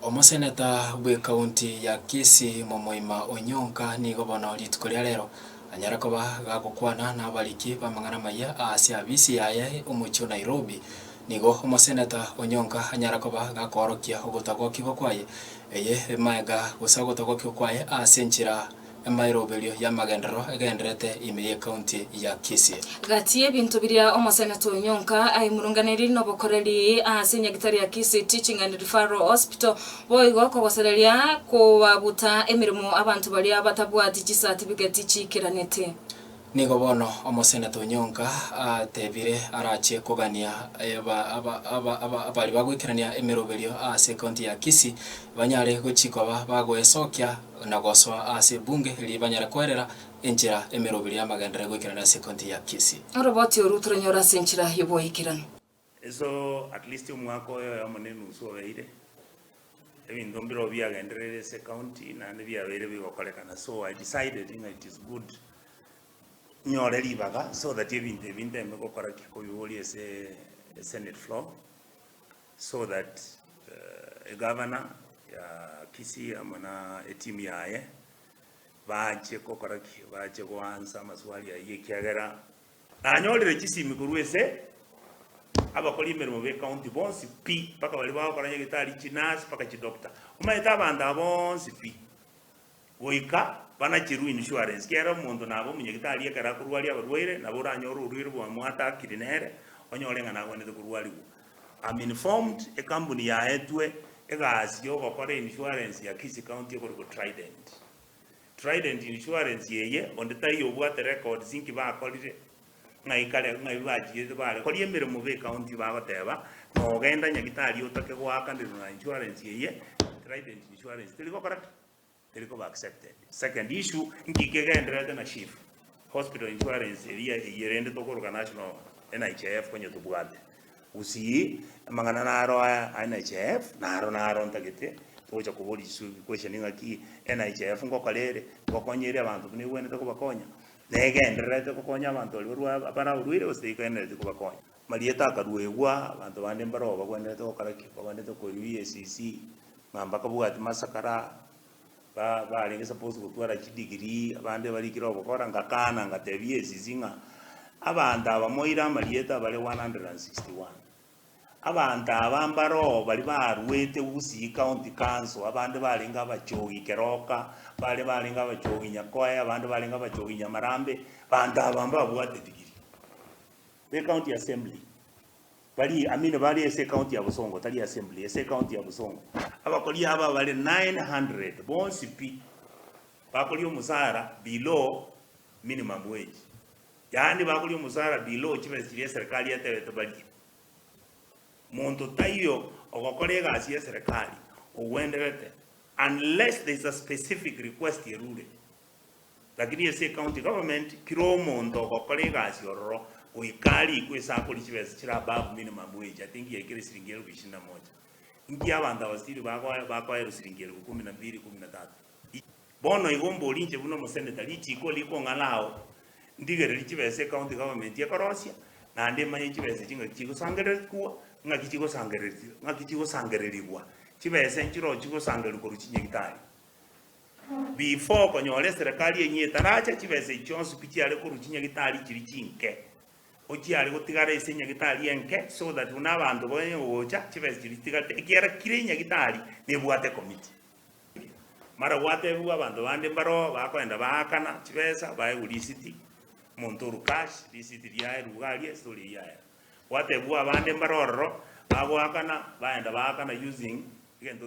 Omoseneta bw'Ekaunti ya Kisii momoima Onyonka nigo bono rituko ria rero anyare koba gagokwana nabariki b'amang'ana amayia aase abisi yaye omochie o Nairobi. Nigo Omoseneta Onyonka anyare koba gakoorokia ogotagokigwa kwaye eye maega gose ogotagokigwa kwaye aase enchera Emairoberio y'amagenderero egendererete ime y'ekaunti ya Kisii. Gati y'ebinto biria Omoseneta Onyonka aimurunganeiri nobokoreri ase enyagitari ya Kisii Teaching and Referral Hospital boigo kogosereria kobabuta emeremo abanto baria batabwati chisatifiketi chiikeranete. Nigo bono omoseneto onyonka ateebire arache kogania abari bagoikerania emeroberio ase ecounty ya Kisii banyare gochia koba bagoesokia na gosoa ase ebunge erio banyare koerera enchera emeroberio y'amagenderero egoikerania ase ecounty ya Kisii. Oroboti oru toranyore ase enchera y'oboikeranu. Iso at least omwaka oye oyomo ne enusu obeire, ebinto mbirobio biagendereire ase ecounty naende biabeire bigokorekana so I decided ng'a it is good nyore ribaga so that ebinto ebi nteme gokora ki kobiboria ase esenate floor so that eh, egavana ya Kisii amo na etimu yaye bache gokora ki bache goansa amaswali ayio ekiagera Nanyorire chisimi korwa ase abakori emeremo b'ecounty bonsi pi, mpaka baria bagokora nyagetari, chinurse, mpaka chidoctor. Omanyete abanto aba bonsi pi, goika banacherwe insurance, kiagera omonto nabe omonyagetari ekero akorwaria abarwaire, nabo oranyore orwaire bwa mwatakiri nere, onyore ng'a nagwenerete korwarigwa. I'm informed ekambuni yaetwe egasi yogokora insurance ya Kisii County ekorokwa Trident. Trident Insurance eye, onde taiyo obwate records inki bakorire, ng'ai kare, ng'ai bachigete bare koria emeremo be county bagoteba nogenda nyagitari otake goakanirwa na insurance eye, Trident Insurance teri gokora ki? Teri koba accepted. Second issue, inki kegendererete na chief? Hospital insurance eria eyio rende tokoruka national NHIF onye tobwate gusii amang'ana naro aya a NHIF naro naro ntagete togocha koboria chisubi question ng'aki NHIF ngokora ere ngokonya eri abanto buna ebwenerete kobakonya negendererete gokonya abanto baria barwa abare abarwaire gose tegenderereti kobakonya. Marieta akaruegwa abanto bande mbaroo bagwenerete gokora ki? Bagwenerete koewa EACC ng'a mbakabwati masakara ba barenge suppose gotwara chidegree, abande barikire ogokora, ngakana ngatebia esisi ng'a abanto aba moire amarieta bare 161, abanto aba mbaroo baria barwete gusii county council, abande barenge abachogi keroka, abande barenge abachogi nyakoe, abande barenge abachogi nyamarambe, banto aba mbabwate degree, be county assembly. Bari Amino bare ase ekaunti ya Busongo, tari Assembly, ase ekaunti ya Busongo. Abakori aba bare 900, bonsi pi, bakoria omosaara below minimum wage, yaani bakoria omosaara below chibesa chiria eserekari etebete barie. Monto taiyo ogokora egasi y'eserekari ogwenderete unless there is a specific request erure. Lakini ase ecounty government kera omonto ogokora egasi ororo goika arikwe ase akoria chibesa chire above minimum wage ati ngiya ekere siringi elfu ishirini na moja ngiya abanto aba still bagoe bakoerwa siringi elfu kumi na mbiri kumi na tatu bono igo mboria inche buna omosenator richiko rikong'ara ao ndigereri chibesa ecounty government ekorosia naende emanye chibesa echi ng'aki chigosangererikwa ng'aki chigosangereri ng'aki chigosangererigwa chibesa enchire ochigosangererigwa korwa chinyagitari. Before okonyora eserekari enyia etaracha, chibesa echi chionsi pi chiare korwa chinyagitari chiria chinke, ko chiare gotigara ase enyagitari enke, so that buna abanto banye gocha, chibesa chiria chitigarete, ekiagera kira enyagitari nebwate committee. Mara gwatebigwa abanto bande mbaroo bakoenda baakana chibesa, baegwa risiti, omonto orwe cash, risiti riaye ruga aria, story eyio yaera. Gwatebigwa abande mbare ororo, bagoakana, baenda baakana using egento.